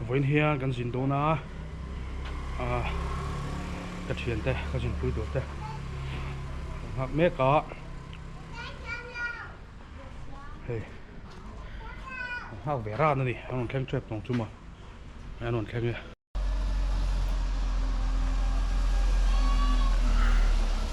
Vawiin hian kan zin dawn a, ka thian te, ka zunpui tur te kan nghak mek a, hei an nghak ve ran a ni, an rawn thleng tep tawng chu mah mai an rawn thleng e.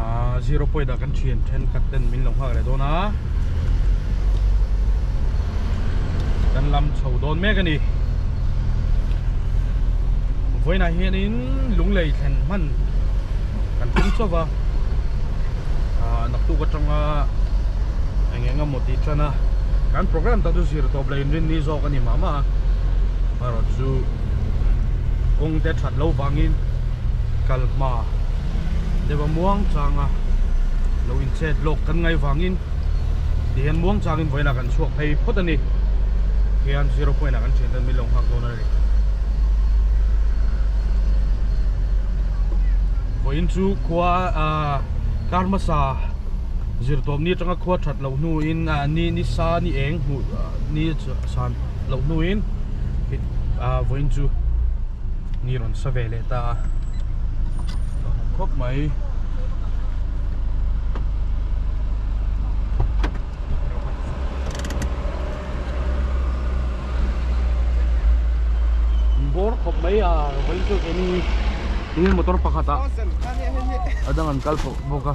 à, zero point a kan thian then khat ten min lo nghak leh dawn a kan lam chho dawn mek ani voina hianin lunglei thlen hman kan thum chauh va à, naktuk atanga eng eng emaw tih chana kan program ta chu zir tawp leh inrin ni zawk ani mah mah a erawh chu kawngte that lo vangin kal hma deuh a muang chang a lo in chet lawk kan ngai vangin ti hian muang chang in vawilah kan chhuak phei phawt a ni hian zero point ah kan thian dan min lo nghak dawn a ni vawiin chu khua a kar hmasa zir tawp ni atanga khua that loh hnu in ni ni sa ni eng hmuh ni san loh hnu in vawiin chu ni rawn sa ve leh ta a lo lang khawp mai bawr khawp mai a vawin chu eng eng motor pakhat ah a dang an kal tawh bawk a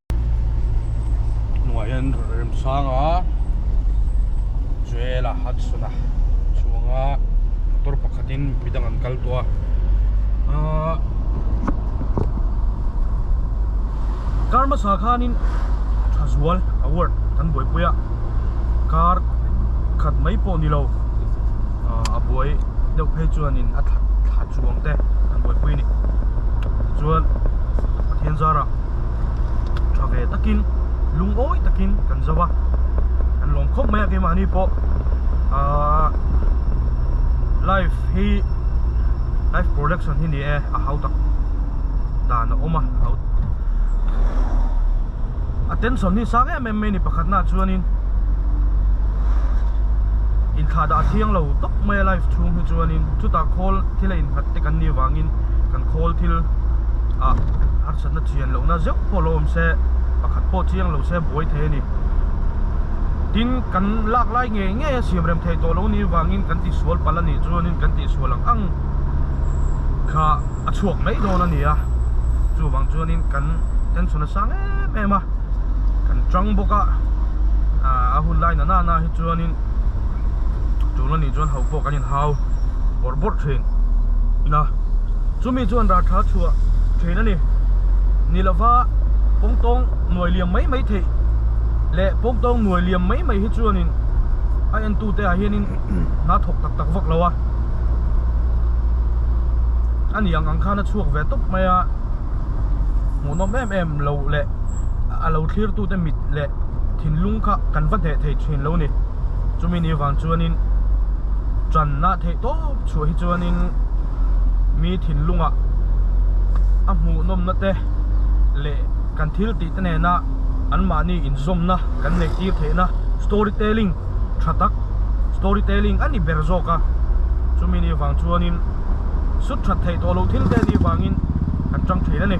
hnungah hian remsanga zuela hudson a chuanga motor pakhatin midang an kal tawh a aaa kar hmasa khanin tha zual award kan buaipui a kar khat mai pawh ni lo ahh a buai deuh phei chuanin a tha tha chuang te kan buaipui a ni tichuan pathian zara-- tha ve takin lungawi takin kan zo a kan lawm khawp mai a keimahni pawh aaa life hi life production hi ni e a hau tak dan a awm a a hau a tension hi sang em em mai a ni pakhatnaah chuanin inthla dah thiang lo tawp mai a life chhung hi chuanin chutah khawl thil a innghat te kan nih avangin kan khawl thil ah-- Pasatna chian lohna zeuh pawh lo awm se, pakhat pawh chiang lo se buai thei a ni. Tin, kan lak lai ngei ngei a siam rem thei tawh lo niin vangin kan tisual palh a nih chuanin kan tihsual ang ang kha a chhuak mai dawn a ni a. Chuvang chuanin kan tension a sang em em a, kan ṭang bawk a. A hun lai nana nana hi chuanin tul a nih chuan hau pawh kan inhau bawrh bawrh ṭhin. Ina, chumi-- Hemi chuan rar tha chhuah thin a ni. Ni lova pawng tawng nuai liam mai mai theih leh pawng tawng nuai liam mai mai hi chuanin a entute ah hianin hna thawk tak tak vak lo a, a niang ang khan a chhuak ve tawp mai a, hmuhnawm em em loh leh a lo thlirtute mit leh thinlung kha kan va hneh thei thin lo a ni. chumi ni vang chuanin channa theih tawp chhuah hi chuanin mi thinlunga a hmuhnawmna te leh kan thil tih te nena an mahni inzawmna kan nei tir theihna story telling tha tak story telling a ni ber zawk a chumi ni vang chuanin sut that theih tawh lo thil te ni vangin kan chang thin a ni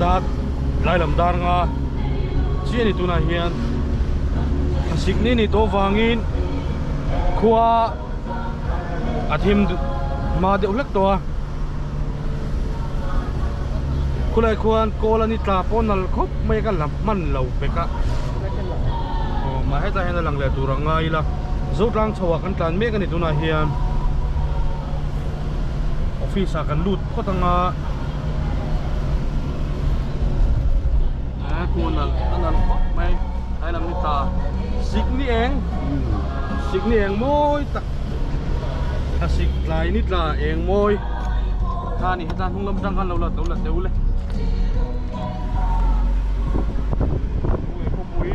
dar hlailam dar nga chiah ni tunah hian khasik ni ni tawh vangin khua a thim hma deuh hlek tawh a khulai khuan kawl ani tla pawh nal khawp mai ka la hman lo bek a aw mah hetah hian a lang leh tur a ngai ila zutlang chhoh ah kan tlan mek a ni tunah hian office ah kan lut-- phawt ang a he khu nalh a nalh khawp mai hnai lam ni ta sik ni eng sik ni eng mawi tak a sik tlai ni tla eng mawi kha ni heta hnung lam atang khan lo la to la deuh le khawpui khawpui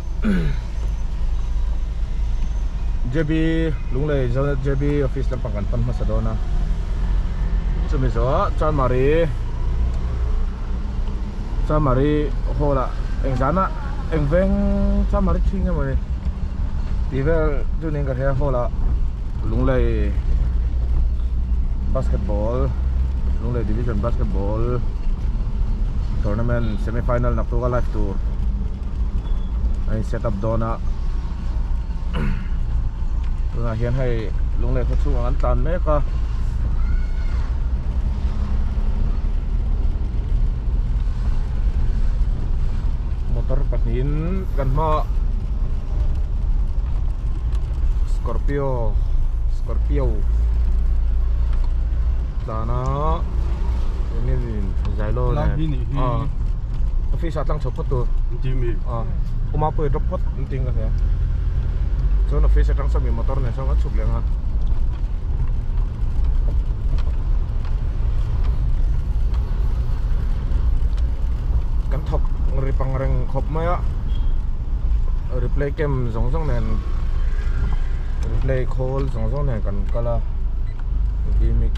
JB lunglei zona JB office lampang kan pan hmasa dawn a chumi zawha chuan mari chuan mari hall a engzana engveng chuan mari thing emaw ni tivel chunin ka hria hall a lunglei basketball lunglei division basketball tournament semi final naktuk a live tur a in set up dawn a tunah hian hei lungleh khaw chhungah an tlan mek a motor pahnihin kan hma scorpio scorpio tlana Zailo nen ah office ah tlang chho pawh-- Doctor. Inti mi. Ah. Uma pawh hi drop phawt an ting ka hria. Chuan office atang sa mi motor nen sawm ka chhup leng a. Kan thawk ri pang reng khawp mai a. Replay cam zawng zawng nen replay khawl zawng zawng nen kan kal a. Vmix.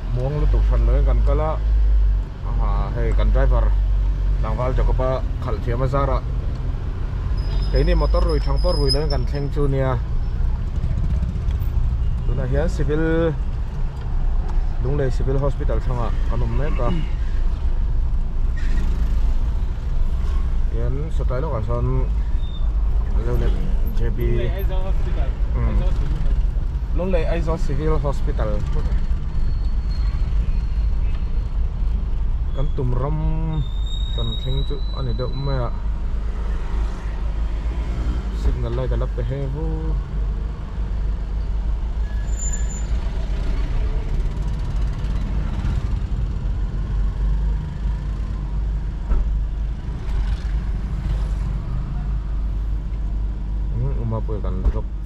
muang lutuk hran loin kan kal a hei kan driver tlangval jacob a khalh thiam a zar a keini motor rui thang pawh rui loin kan thleng chu nia tunah hian civil lunglei civil hospital thanga kan awm mek a hian satai lawkah sawn jb Lunglei Aizawl Civil Hospital kan tum ram kan thleng chu a ni deuh mai a signal light a la pe heng vu a.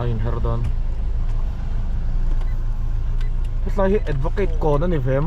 a in her dawn hetlai hi advocate kawn a ni ve em.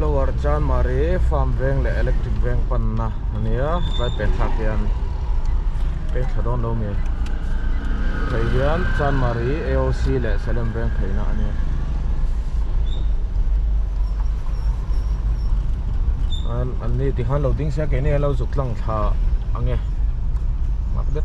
Lower Chanmari farm veng leh electric veng panna a nia hetlai pek thlak hian pek tha dawn lo mai phei hian Chanmari AOC leh Salem veng pheina a nia an an ni tih khan lo ding sia keini hian lo zuk tlang thla ang e nghak det.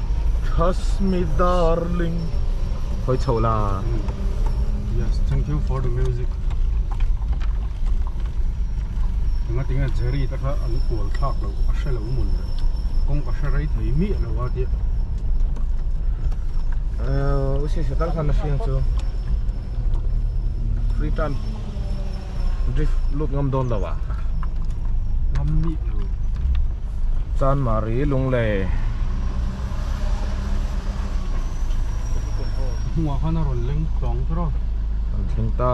Trust me darling Hawi chho la Yes thank you for the music Tunga tinga Jerry ta kha an kual thak lo a hre lo mun le Kawng ka hre rei thei miah lo a tia Usi setal khan a hriang chu Free time drift lut ngam dawn lo ah ngam mih lo chan mari lung le hnua khan a rawn leng tawng tawh a an thleng ta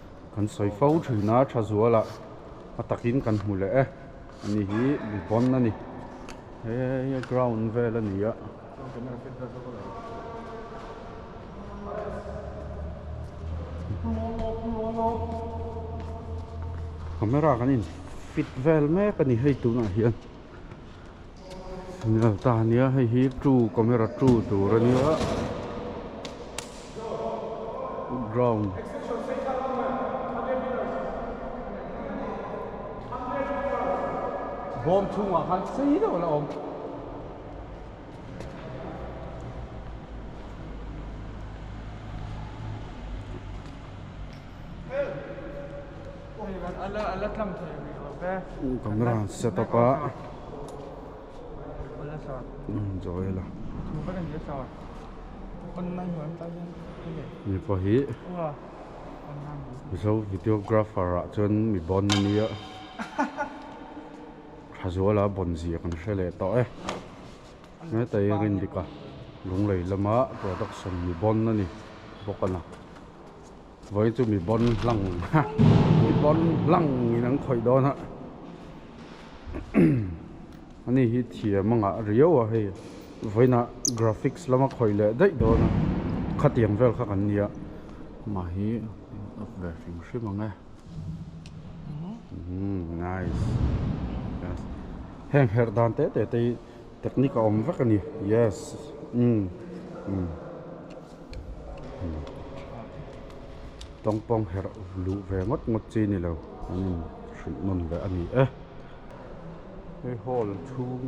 Kan sawi fo thin a, tha zual ah a takin kan hmu leh e. Ani hi Bond a ni. Hei a ground vel a ni a. Camera kan in fit vel mek a ni hei tunah hian. Ni lo ta nia hei hi ṭu camera ṭu tur a nia ground bawm chhungah khan sei deuh ala awm help. camera an set up a mipa hi mizo videographer ah chuan mi bawn a nia tha zual a bawn ziak an hre leh tawh e hetahi rin dik a lunglei lama production mi bawn a ni bawk a lang. Voi chu mi bawn hlang ha mi bawn hlang in an khawih dawn a ani hi thiam anga riau a hei vawiinah graphics lama khawih leh daih dawn a khatiang vel kha kan nia mahni up ve hrim hrim ang e umm nice heng herh dan tete te hi. Technique a awm vek a ni yes umm umm umm tawngpawng herh luh ve ngawt ngawt chi ni lo an in hrilh nawn leh a ni e hei hall chhung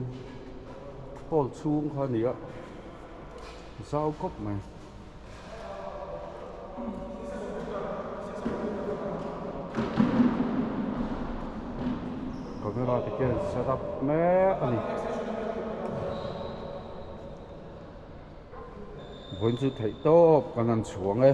hall chhung kha a ni a zau khawp mai. camera te khian set up mek a ni vawiin chu theih tawp kan han chhuang e.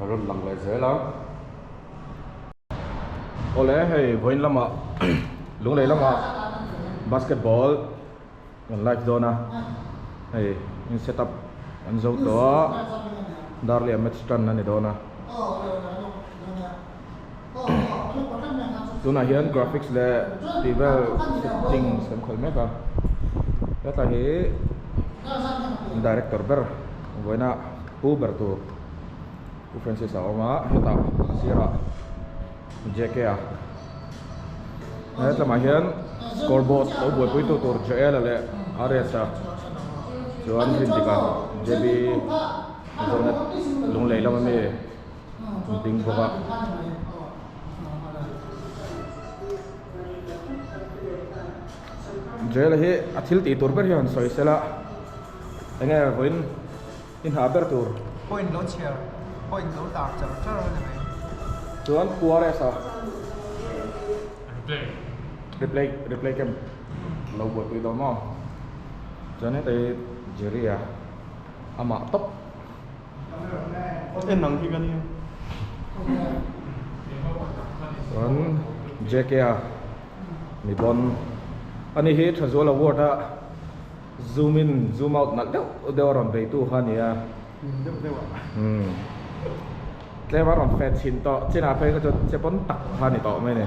a rawn lang leh zel a. Awle hei vawiin lamah Lunglei lamah basketball kan like dawn a, hei in set up an zo tawh a, darley-a match tan a ni dawn a. tunah hian graphics leh tih vel setting a siam khawih mek a hetlai hi director ber vawiina pu ber tur pu francis a awm a hetah a sirah jk a hetlamah hian score board lo buaipui tu tur jl a leh rs a chuan rindik ah jb zawlna lungleihlam ami. an hming bawk a. Jail a hi a thil tih tur ber hi a rawn sawi sel a, enge vawiin i hna ber tur. Point lo chhiar, point lo tar char char a ni mai. Chuan QRS a. Replay. Replay, replay kem lo buaipui dawn maw? Chuan heta hi Jerry a, a mah tawp. chuan jk a mi pawn a ni hi Thazuala ward a zoom in zoom out nalh deuh deuh a rawn beitu kha a ni a tlem a rawn fat chhin tawh chinah phei kha chuan che pawn tak kha a ni tawh mai a ni.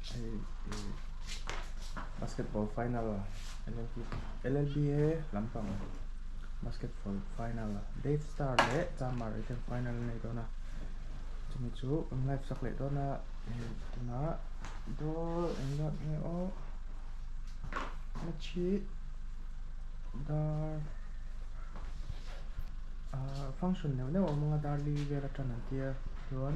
Hei ih basketball final a llb llb he lampang basketball final a death star leh chanmari ten final a nei dawn a chumi chu awm live sak leh dawn a ih tunah daw eng deuh nge awh match hi dar ah function neuh neuh a awm ang a darli vel aṭan an tia chuan.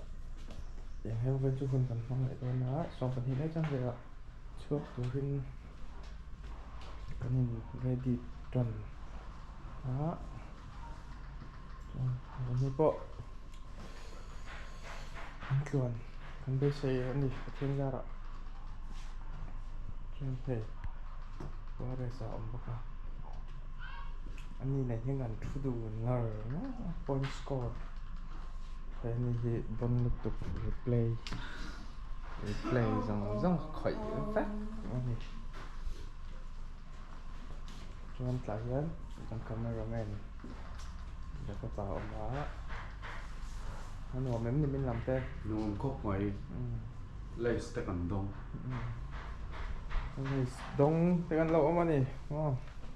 Engho vel chu hun kan hmang leh dawn a, sawm pahnih mai chang vela chhuak turin kan in ready ton a, chuan kan hi pawh kan tluan kan beisei a ni Pathian zara chuan hei forest ah a awm bawk a, ani nei hian kan thu dun ngar ngawt a point score. Finally bun lutuk replay replay zawng zawng a khawih vek a ni chuan tah hian kan camera man leh fapa a awm a a nuam em ni min lam te nuam khawp mai lace te kan dawng lace dawng te kan lo awm a ni aw.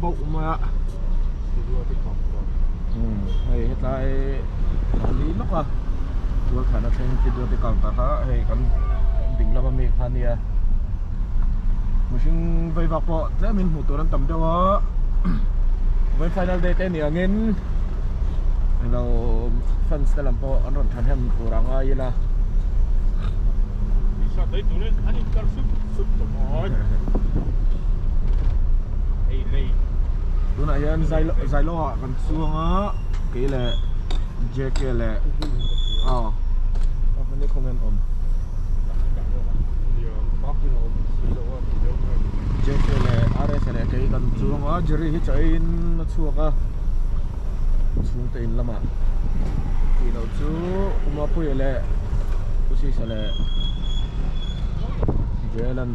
bauh mai a umm hei hetlai mahni lawka tualthan atangin field a tikau ta kha hei kan ding lama mi kha nia mihring vaivak pawh tlemin hmuh tur an tam deuh a vawiin final day te ni angin helo fans te lam pawh an rawn thahnem tur a ngai ila hei. Hei lei. Tunah hian Zailoa kan chuang a, kei leh JK leh aw a hmani khaw ngen awm. JK leh RS leh kei kan chuang a, Jerry hi chahin a chhuak a, chhungte in lamah. Tih loh chu Umapuia leh Usisa leh Jalan.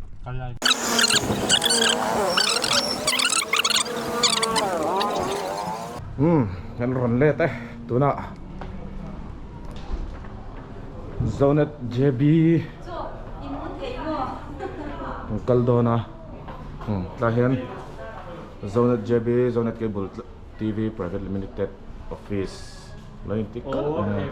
Umm kan rawn let e tunah Zonet JB kan kal dawn a umm tlaiah hian Zonet JB Zonet Cable TV Private Limited office lo in tik kalh mai a.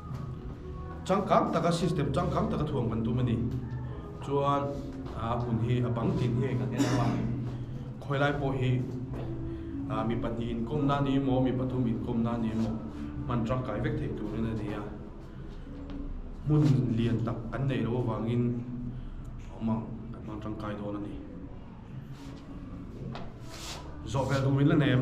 Changkang taka system changkang taka thuam kan tum a ni. Chuan a hun hi a bang tin hi kan en hlawm a. Khawilai pawh hi mi pahnih inkawm nan hi emaw mi pathum inkawm nan hi emaw hman tangkai vek theih turin a ni a. Hmun lian tak kan neih loh avangin awm ang kan hman tangkai dawn a ni. Zawhvel durin la nem.